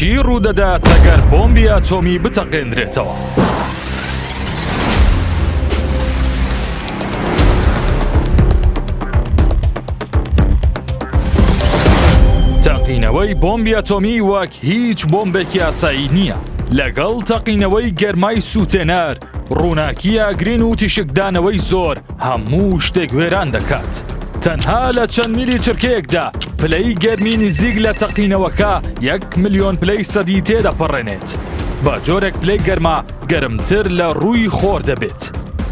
چی ڕوودەدات ئەگەر بۆمبی ئەتۆمی بتەقێندرێتەوە؟ تەقینەوەی بۆمبی ئەتۆمی وەک هیچ بۆمبێکی ئاسایی نییە لەگەڵ تەقینەوەی گەرمای سووتێنەر ڕووناکی ئاگرین و تیشکدانەوەی زۆر هەموو شتێک وێران دەکات. تەنها لە چەند میلی چرکەیەکدا پلەی گەرمی نزیک لە تەقینەوەکە یەک ملیۆن پلەی سەدی تێدەپەڕێنێت. بە جۆرێک پلەی گەرما گەرمتر لە ڕووی خۆر دەبێت.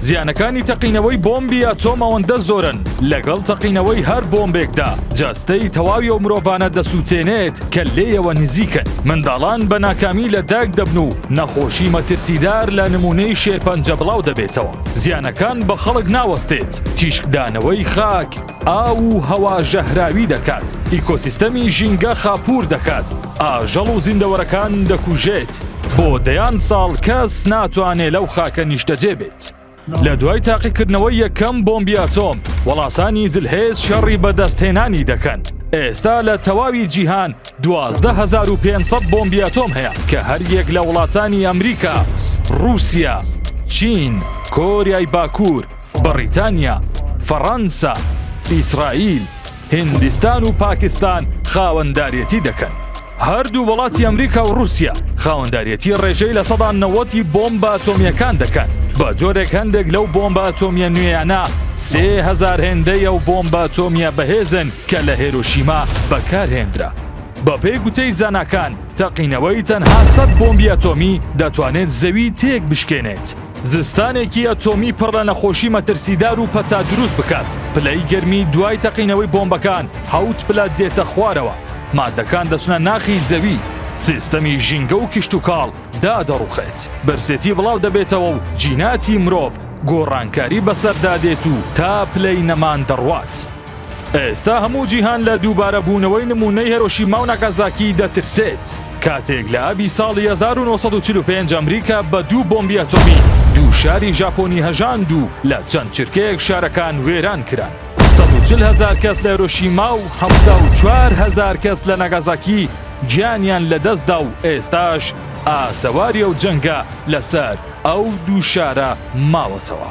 زیانەکانی تەقینەوەی بۆمبی ئەتۆم ئەوەندە زۆرن لەگەڵ تەقینەوەی هەر بۆمبێکدا جەستەی تەواوی ئەو مرۆڤانە دەسووتێنێت کە لێیەوە نزیکن. منداڵان بە ناکامی لە دایک دەبن و نەخۆشی مەترسیدار لە نمونەی شێرپەنجە بڵاو دەبێتەوە زیانەکان بە خەڵک ناوەستێت تیشکدانەوەی خاک ئاو و هەوا ژەهراوی دەکات ئیکۆسیستەمی ژینگە خاپور دەکات ئاژەڵ و زیندەوەرەکان دەکوژێت بۆ دەیان ساڵ کەس ناتوانێت لەو خاکە نیشتەجێ بێت. لە دوای تاقیکردنەوەی یەکەم بۆمبی ئەتۆم وڵاتانی زلهێز شەڕی بەدەستهێنانی دەکەن ئێستا لە تەواوی جیهان 12500 بۆمبی ئەتۆم هەیە کە هەر یەک لە وڵاتانی ئەمریکا رووسیا چین کۆریای باکوور بەڕیتانیا فەڕەنسا ئیسرائیل هیندستان و پاکستان خاوەندارێتی دەکەن. هەردوو وڵاتی ئەمریکا و رووسیا خاوەندارێتی ڕێژەی لە سەدا نەوەتی بۆمبە ئەتۆمیەکان دەکەن بە جۆرێک هەندێک لەو بۆمبە ئەتۆمیە نوێیانە سێ هزار هێندەی ئەو بۆمبە ئەتۆمیە بەهێزن کە لە هێرۆشیما بەکارهێنرا. بەپێی گوتەی زاناکان تەقینەوەی تەنها سەد بۆمبی ئەتۆمی دەتوانێت زەوی تێک بشکێنێت. زستانێکی ئەتۆمی پڕ لە نەخۆشی مەترسیدار و پەتا دروست بکات پلەی گەرمی دوای تەقینەوەی بۆمبەکان حەوت پلە دێتە خوارەوە مادەکان دەچنە ناخی زەوی سیستەمی ژینگە و کشتتوکاڵ دادەڕوخێت برسێتی بڵاو دەبێتەوە و جیناتی مرۆڤ گۆڕانکاری بەسەردا دێت و تا پلەی نەمان دەڕوات. ئێستا هەموو جیهان لە دووبارە بوونەوەی نموونەی هێرۆشیما و ناکازاکی دەترسێت، کاتێک لە ئابی ساڵی 1945 ئەمریکا بە دوو بۆمبی ئەتۆمی دوو شاری ژاپۆنی هەژاند و لە چەند چرکەیەک شارەکان وێران کران. 140 هەزار کەس لە هێرۆشیما و 74 هەزار کەس لە ناگازاکی گیانیان لەدەستدا و ئێستاش ئاسەواری ئەو جەنگە لەسەر ئەو دوو شارە ماوەتەوە.